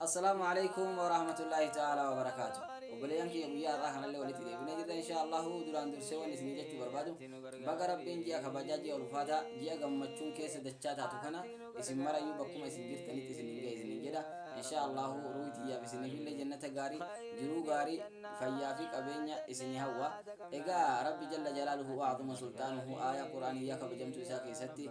Assalaamu alaikum warahmatullahi ta'ala wabarakaatu. Obboleeyyan kiyya guyyaa har'aa kanallee walitti deebinee jirra inshaallahu duraan dursee wanni isinii jechuu barbaadu baga rabbiin ji'a kabajaa ji'a ulfaataa ji'a gammachuun keessa dachaa taatu kana isin marayyuu bakkuma isin jirtanitti isin hin ga'e isin hin jedha inshaallahu ruuhi tiyyaaf isiniifillee jannata gaarii jiruu gaarii fayyaa fi qabeenya isinii hawwa egaa rabbi jalla jalaaluhu waa'azuma sulxaanuhu aayaa quraaniyyaa kabajamtuu isaa keessatti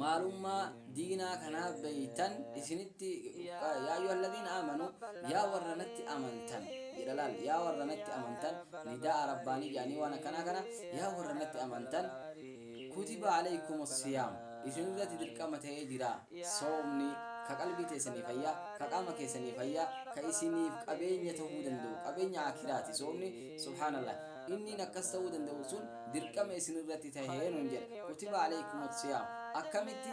maalummaa diinaa kanaa beeytan isinitti Yaa ayyuhallaziina aamanuu Yaa warra natti amantan jedha laal Yaa warra natti amantan nidaa'a rabbaanii jedhanii waan akkanaa kana Yaa warra natti amantan kutiba aleykumus siyaam isinirratti dirqama ta'ee jira soomni ka qalbii teessanii fayya ka qaama keessanii fayya ka isiniif qabeenya ta'uu danda'u qabeenya aakiraati soomni subhaanallaah Inniin akkas ta'uu danda'u sun dirqama isin irratti tahe nuun jedhe. Kutiba alaykumus siyaam. Akkamitti?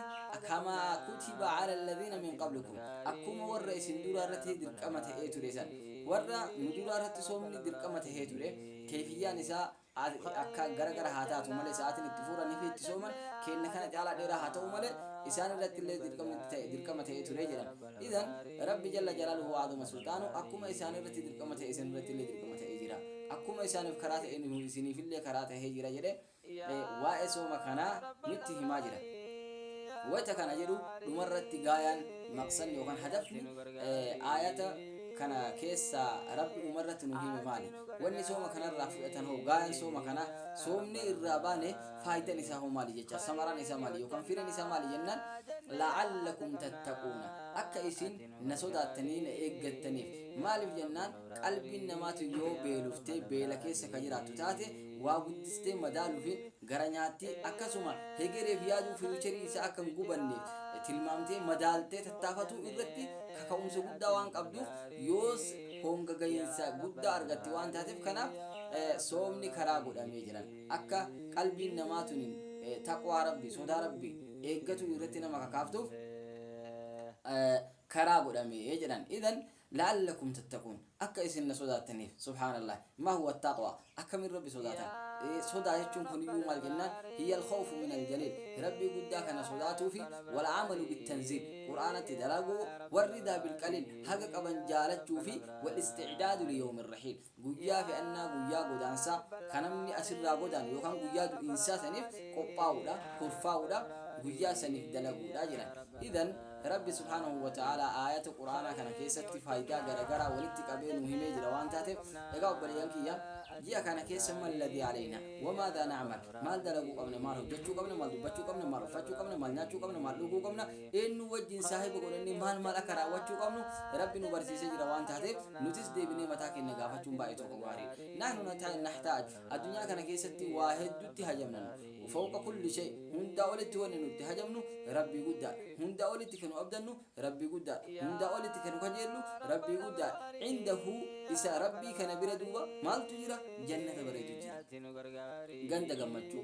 Kamaa kutiba ala alladhiina min qablikum. Akkuma warra isin duraa irratti dirqama ta'ee ture san. Warra nu duraa irratti soomni dirqama tahee ture, keeyfiyyaan isaa akka gara gara haa taatu malee, sa'aatiin itti fuuranii fi itti sooman keenna kana caalaa dheeraa haa ta'uu malee, isaan irratti illee dirqamni itti tahe, dirqama ta'ee ture jedhan. Idhan, Rabbi jalla jalaaluhu wa 'azuma sulxaanuhu akkuma isaan irratti dirqama ta'e isin irrattillee dirqama ta'ee jira. Akkuma isaaniif karaa ta'e nuhuu isiniifillee karaa tahee jira jedhee waa'ee sooma kanaa nutti himaa jira. Wayta kana jedhu dhumarratti gaayaan, maqsadni yookaan hadafni, aayata kana keessaa Rabbi dhumarratti nu hime maali? Wanni sooma kanarraa fudhatan hoo gaayaan sooma kanaa soomnee irraa baane faaydan isaa hoo maali jechaa samaraan isaa maali yookaan firen isaa maali jennaan la'allakum tattaquuna akka isin na sodaattanii na eeggattaniif maaliif jennaan qalbiin namaatu yoo beeluftee beela keessa ka jiraattu taate waa guddistee madaaluufiin gara nyaatti akkasuma hegereef yaaduu firuucheriin isaa akka hin gubanne tilmaamtee madaaltee tattaafatuu irratti kaka'umsa guddaa waan qabduuf yoos honga gahiinsa guddaa argatti waan taateef kanaaf soomni karaa godhamee jiran. akka qalbiin namaa tuni taqwaa Rabbii, sodaa Rabbii, eeggatuu irratti nama kakaaftuuf karaa godhame jedhan. Idhan la'allakum tattaquun akka isin na sodaattaniif. Subhaanallaah. Maa huwa attaqwaa? Akkamiin Rabbi sodaatan? Sodaa jechuun kuniyyuu maal jennaan? Hiya al-khawfu min al-jaliil. Rabbii guddaa kana sodaatuu fi wal amalu bit-tanziil. Qur'aanatti dalaguu, wal-ridaa bil-qaliil. Haga qaban jaalachuu fi wal-isticdaadu li yawmi rahiil. Guyyaa fe'annaa, guyyaa godaansaa, ka namni as irraa godaanu yookaan guyyaa du'iinsaa saniif qophaawuudha, kurfaawuudha, guyyaa saniif dalaguudha jedhan. Idhan, Rabbi subhaanahu wa ta'aalaa aayata Qur'aanaa kana keessatti faaydaa garagaraa walitti qabee nuu himee jira waan taateef, egaa obboleeyyan kiyya, ji'a kana keessa ma alladhii aleynaa? Wa maadhaa na'mal? Maal dalaguu qabna? Maal hojjachuu qabna? Maal dubbachuu qabna? Maal uffachuu qabna? Maal nyaachuu qabna? Maal dhuguu qabna? eenyuu wajjin saahiba godhannee maal maal akka raawwachuu qabnu Rabbi nu barsiisee jira waan taateef nutis deebinee mataa keenya gaafachuun baay'ee tokko gaariidha. Nahnu nata- nahtaaj addunyaa kana keessatti waa hedduutti hajamnanu fawqa kulli shay hundaa olitti wanni nutti hajamnu Rabbii guddaadha. Hundaa olitti kan nu abdannu Rabbii guddaadha. Hundaa olitti kan nu kajeellu Rabbii guddaadha. Indahu isa Rabbii kana bira duuba maaltu jira? Jannata bareedu jira. Ganda gammachuu.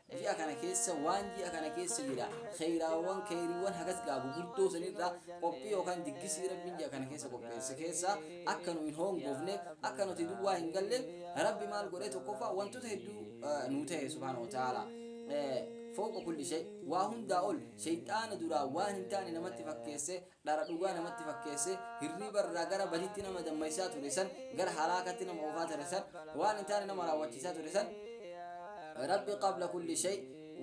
Ji'a kana keessa waan ji'a kana keessa jira kheeyraawwan kheeyriiwwan hagas gaa gugurdoo san irraa qophii yookaan diggisii Rabbiin ji'a kana keessa qopheesse keessa akka nu hin hoongoofne akka nuti duwwaa hin galle Rabbi maal godhe tokkoffaa wantoota hedduu nuu tahe subhaanahu wa ta'aalaa fawqa kulli shay waa hundaa ol sheyxaana duraa waan hin taane namatti fakkeesse Dhara dhugaa namatti fakkeessee hirriiba irraa gara badiitti nama dammaqsiisaa ture san, gara halaakatti nama oofaa ture san, waan hin taane nama raawwachiisaa ture san, Rabbi qabla kulli shay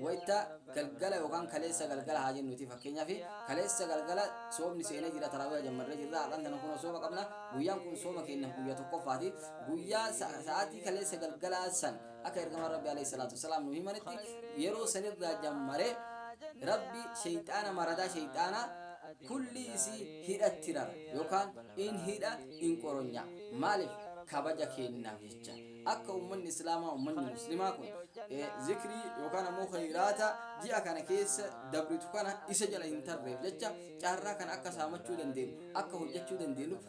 wayta galgala yookaan kaleessa galgala haa jennuuti fakkeenyaaf kaleessa galgala soomni seenee jira taraawiha jammarree jirra har'aan tana kunoo sooma qabna guyyaan kun sooma keenyaaf guyyaa tokkoffaati guyyaa sa- sa'aatii kaleessa galgalaa san Akka Ergamaan Rabbii alayhi salaatu wassalaam nuu himanitti yeroo sanirraa jammaree Rabbi sheyxaana maradaa sheyxaanaa kulli isii hidhatti rara yookaan in hidha in qoronyaa maaliif kabaja keennaaf jecha akka ummanni islaamaa ummanni muslimaa kun eh, zikrii yookaan ammoo khayraata ji'a kana keessa dabritu kana isa jala hin tarreef jecha carraa kana akka saamachuu dandeenyu akka hojjechuu dandeenyu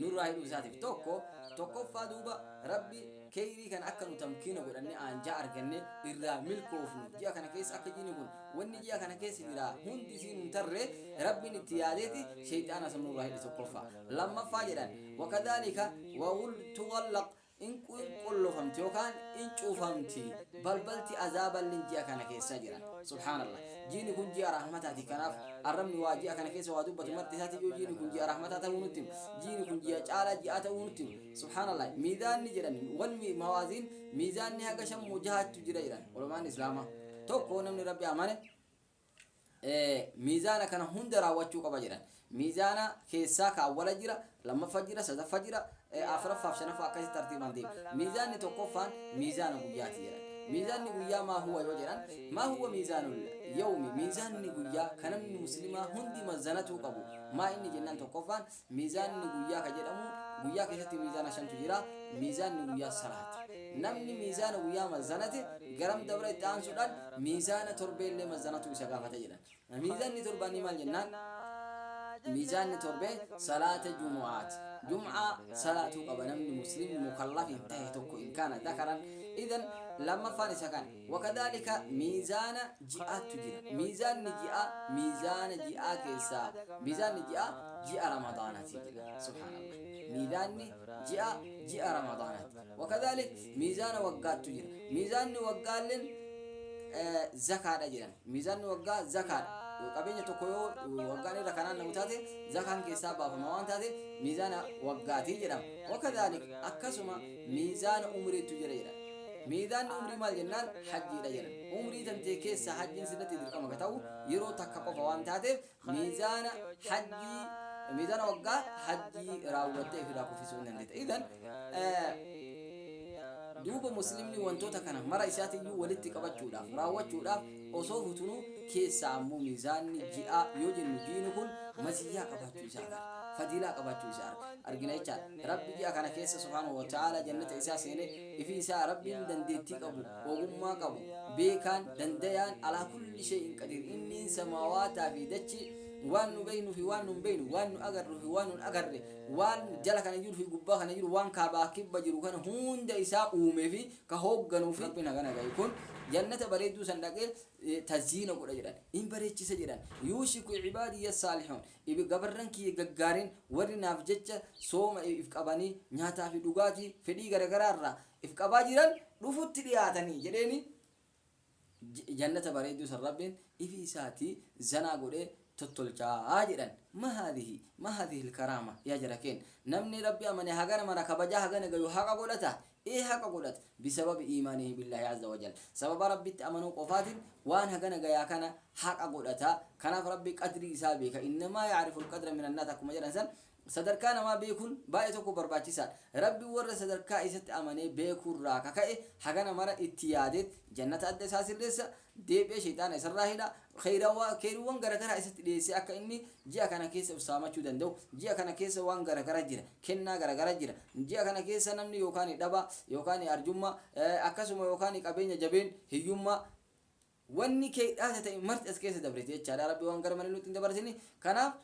nurraa hidhuu isaatiif tokko tokkoffaa duuba rabbi keeyrii kana akka nu tamkiina godhanne aanjaa arganne irraa milkoofnu ji'a kana keessa akka jiini kun wanni ji'a kana keessa jira hundi isiin hin tarre rabbiin itti yaadeeti sheeyxaana san nurraa hidhe tokkoffaa lammaffaa jedhan wakadaalika wawul tuwallaq In qulqullofamti yookaan in cuufamti balbalti azaaballin ji'a kana keessa jiran. Subhaanallah. Jiini kun ji'a rahmataati kanaaf arrabni waa ji'a kana keessa waa dubbatu marti isaatiyyuu jiini kun ji'a rahmataa ta'uu nutti hima. Jiini kun ji'a caalaa ji'aa ta'uu nutti hima. Subhaanallah. Miizaanni jedhan wal mi mawaaziin miizaanni haga shan moo jahaattu jira jedhan ulamaa'ni islaamaa. Tokko namni Rabbi amane. miizaana kana hunda raawwachuu qaba jedhan. Miizaana keessaa ka awwala jira, lammaffa jira, sadaffa jira, afraffaaf shanaffaa akkasitti tartiibaan deema. Miizaanni tokkoffaan miizaana guyyaati jedhan. Miizaanni guyyaa maa huwa yoo jedhan, maa huwa miizaanul yawmi miizaanni guyyaa ka namni muslimaa hundi mazanatuu qabu. Maa inni jennaan tokkoffaan Miizaanni guyyaa ka jedhamu guyyaa keessatti miizaana shantu jira, miizaanni guyyaa salaati. Namni miizaana guyyaa mazzanate garam dabra itti aansuudhaan miizaana torbeellee mazzanatuu isa gaafata jedhan. Miizaanni torbaanii maal jennaan? Miizaanni torbee salaata jumu'aati. Jum'aa salaatuu qaba namni muslimni mukallaf hin tahe tokko in kaana dakaran. Idan lammaffaan isa kana. Wakadhaalika miizaana ji'aattu jira. Miizaanni ji'aa miizaana ji'aa keessaa miizaanni ji'aa ji'a Ramadaanaati jedha. Subhaanallah. Miizaanni ji'aa ji'a Ramadaanaati. Wakadhaalik miizaana waggaattu jira. Miizaanni waggaalleen zakaadha jedhan. Miizaanni waggaa zakaadha. Qabeenya tokko yoo waggaan irra kanaan namu taate zakaan keessaa baafama waan taate miizaana waggaati jedhama. Wakadhaalik akkasuma miizaana umriittu jira jedhan. Miizaanni umrii maal jennaan hajjiidha jedhan. Umrii tantee keessaa hajjiin sirratti dirqama ka ta'u yeroo takka qofa waan taateef miizaana hajjii miizaana waggaa hajjii raawwattee ofirraa kuffisuu hin dandeetta. Idan duuba muslimni wantoota kana mara isaatiyyuu walitti qabachuudhaaf raawwachuudhaaf osoo futunuu keessaa ammoo miizaanni ji'aa yoo jennu jiini kun maziyyaa qabaachuu isaa agarra. Fadiilaa qabaachuu isaa argina jechaadha. Rabbi ji'a kana keessa subhaanahu wa ta'aalaa jannata isaa seene, ifii isaa Rabbiin dandeettii qabu, ogummaa qabu, beekaan, dandayaan, alaa kulli shay'in qadiir, inniin samaawaataa fi dachii, waan nu beeynuu fi waan nu hin beeyne, waan nu agarruu fi waan nu hin agarre, waan jala kana jiru fi gubbaa kana jiru, waan kaabaa fi kibba jiru kana hunda isaa uumee fi ka hoogganuu fi. Rabbiin hagana gaye kun jannata bareedduu san dhaqee tazyiina godha jedhan, hin bareechisa jedhan, yuushiku ibaadiyya saalihuun, iv. Gabarran kiyya gaggaariin warri naaf jecha sooma if qabanii nyaataa fi dhugaatii fedhii garagaraa irraa if qabaa jiran dhufutti dhiyaatanii jedheeni Jannata bareedduu san Rabbiin ifii isaatii zanaa godhee tottolchaa jedhan. Ma haadhihi ma haadhihil karaama yaa jara keen namni Rabbi amane hagana mara kabajaa hagana gayu haqa godhata ee haqa godhate bisababi iimaanihi billahi azza wajal sababa rabbitti amanuu qofaatin waan hagana gayaa kana haqa godhata kanaaf rabbi qadrii isaa beeka innamaa ya'rifu alqadra min annaas akkuma jedhan san sadarkaa namaa beekun baay'ee tokko barbaachisaadha rabbi warra sadarkaa isatti amanee beekurraa ka ka'e hagana mara itti yaadee jannata adda isaa sirreessa deebi'ee sheyxaana isarraa hidha, kheyrawa, kheyriwwan garagaraa isatti dhiyeessee akka inni ji'a kana keessa of saamachuu danda'u, ji'a kana keessa waan garagara jira, kennaa garagara jira, ji'a kana keessa namni yookaan dhabaa, yookaan arjummaa, akkasuma yookaan qabeenya jabeen, hiyyummaa, wanni keydhaata ta'e marti as keessa dabriti jechaadha, Rabbi waan gara malee nutti hin dabarsini, kanaaf.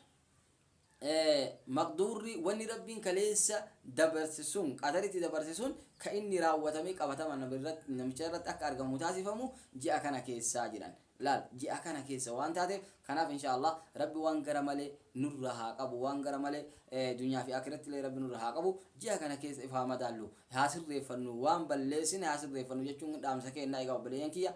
maqduurri wanni Rabbiin kaleessa dabarse sun, qadaritti dabarse sun, ka inni raawwatamee qabatamaan nama irratti, namicha irratti akka argamu taasifamu ji'a kana keessaa jedhan. Laal, ji'a kana keessa waan taateef, kanaaf inshaa Allaah Rabbi waan gara malee nurra haa qabu, waan gara malee dunyaa fi aakiratti illee Rabbi nurra haa qabu, ji'a kana keessa if haa madaallu, haa sirreeffannu, waan balleessine haa sirreeffannu jechuun dhaamsa keenna, egaa obboleeyyan kiyya,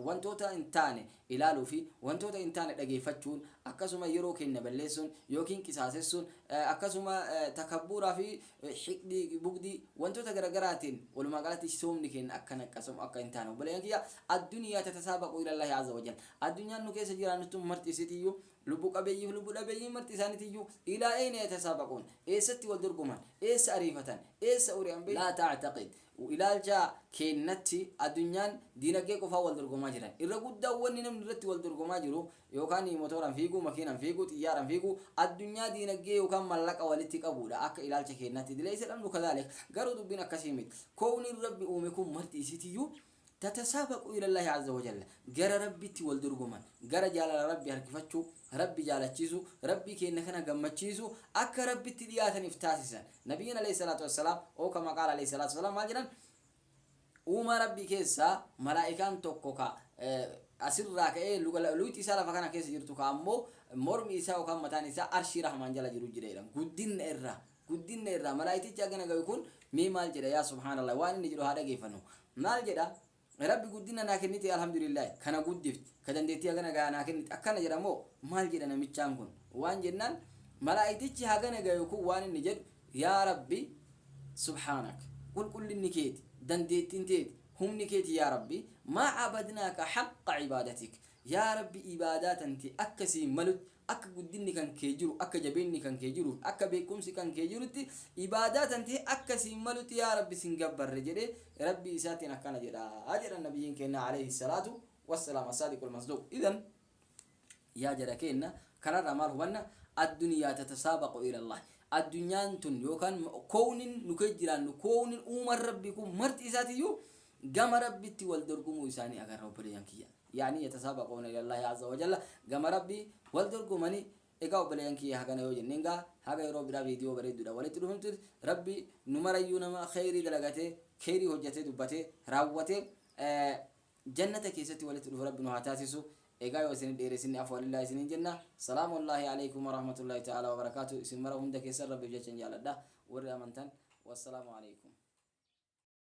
wantoota hin taane ilaaluu fi wantoota hin taane dhageeffachuun, akkasuma yeroo keenya balleessuun ykn qisaasessuun, akkasuma takabbuuraa fi hiqdii, bugdii, wantoota garagaraatiin walumaa galatti soomni keenya akka naqqasamu akka hin taane obboleeyyan kiyya addunyaa tatasaabaqu ilallahi azza wajal addunyaan nu keessa jiraannuttu marti isitiyyuu lubbu qabeeyyiif lubbu dhabeeyyiin marti isaanitiyyuu ilaa eyna yatasaabaquun eessatti wal dorgoman eessa ariifatan eessa uri'an beeytu laa ta'taqid u Ilaalcha keennatti adunyaan diinagdee qofaan wal dorgomaa jiran. Irra guddaan wanni namni irratti wal dorgomaa jiru yookaan motooraan fiiguu, makiinaan fiiguu, xiyyaaraan fiiguu addunyaa diinagdee yookaan mallaqa walitti qabuudha akka ilaalcha keennatti. Dilaysa al-amru kadhalik. Garuu dubbiin akkasii miti. Koowniin Rabbi uume kun marti isiitiyyuu Tatasaabaquu ilallaahi azza wa jalla, gara Rabbitti wal dorgoman, gara jaalala Rabbi harkifachuu, Rabbi jaalachiisuu, Rabbii keenna kana gammachiisuu, akka Rabbitti dhiyaatan if taasisan. Nabiyyiin aleyhi salaatu wassalaam, ow kama qaala aleyhi salaatu wassalaam, maal jedhan? Uumaa Rabbii keessaa malaa'ikaan tokko ka asirraa ka'ee luga luyti isaa lafa kana keessa jirtu ka ammoo mormi isaa yookaan mataan isaa arshii rahmaan jala jiru jira jedhan. Guddinna irraa. guddinna irraa malaaytichi hagana gayu kun mee maal jedha yaa subhaanallah waan inni jedhu haa dhageeffannu maal jedha rabbi guddinna naa kennite alhamdulillaahi kana guddifte ka dandeettii hagana gahaa naa kennite akkana jedha moo maal jedha namichaan kun waan jennaan malaaytichi hagana gayu kun waan inni jedhu yaa rabbi subhaanak qulqullinni keeti dandeettiin teeti humni keeti yaa rabbi maa cabadnaaka haqqa cibaadatik yaa rabbi ibaadaa tanti akkasii malutti Akka guddinni kan kee jiru, akka jabeenni kan kee jiruuf, akka beekkumsi kan kee jirutti ibaadaa tantee akka siin malutti yaa Rabbi sin gabbarre jedhee Rabbii isaatiin akkana jedha jedhan Nabiyyiin keenna aleyhi salaatu wassalaam assaadiqul masduuq. Idhan yaa jara keenna kanarraa maal hubanna? Addunyaa tatasaabaqu ilallahi. Addunyaan tun yookaan kownin nu keessa jiraannu, kownin uuman Rabbii kun marti isaatiyyuu Gama Rabbitti wal dorgomuu isaanii agarra obboleeyyan kiyya. Ya'nii yatasaabaqoona ilallaahi azza wa jalla gama Rabbii wal dorgomani egaa obboleeyyan kiyya hagana yoo jenneen gaa haga yeroo biraa viidiyoo bareedduudhaan walitti dhufnutti Rabbi nu marayyuu nama kheeyrii dalagatee kheeyrii hojjatee dubbatee raawwatee Jannata keessatti walitti dhufu Rabbi nu haa taasisu egaa yoo isinin dheeressinne afwa lillaahi isiniin jenna Salaamullaahi aleykum wa rahmatullaahi ta'aalaa wa barakaatuh isin mara hunda keessan Rabbiif jechan jaaladha warri amantan wassalaamu aleykum.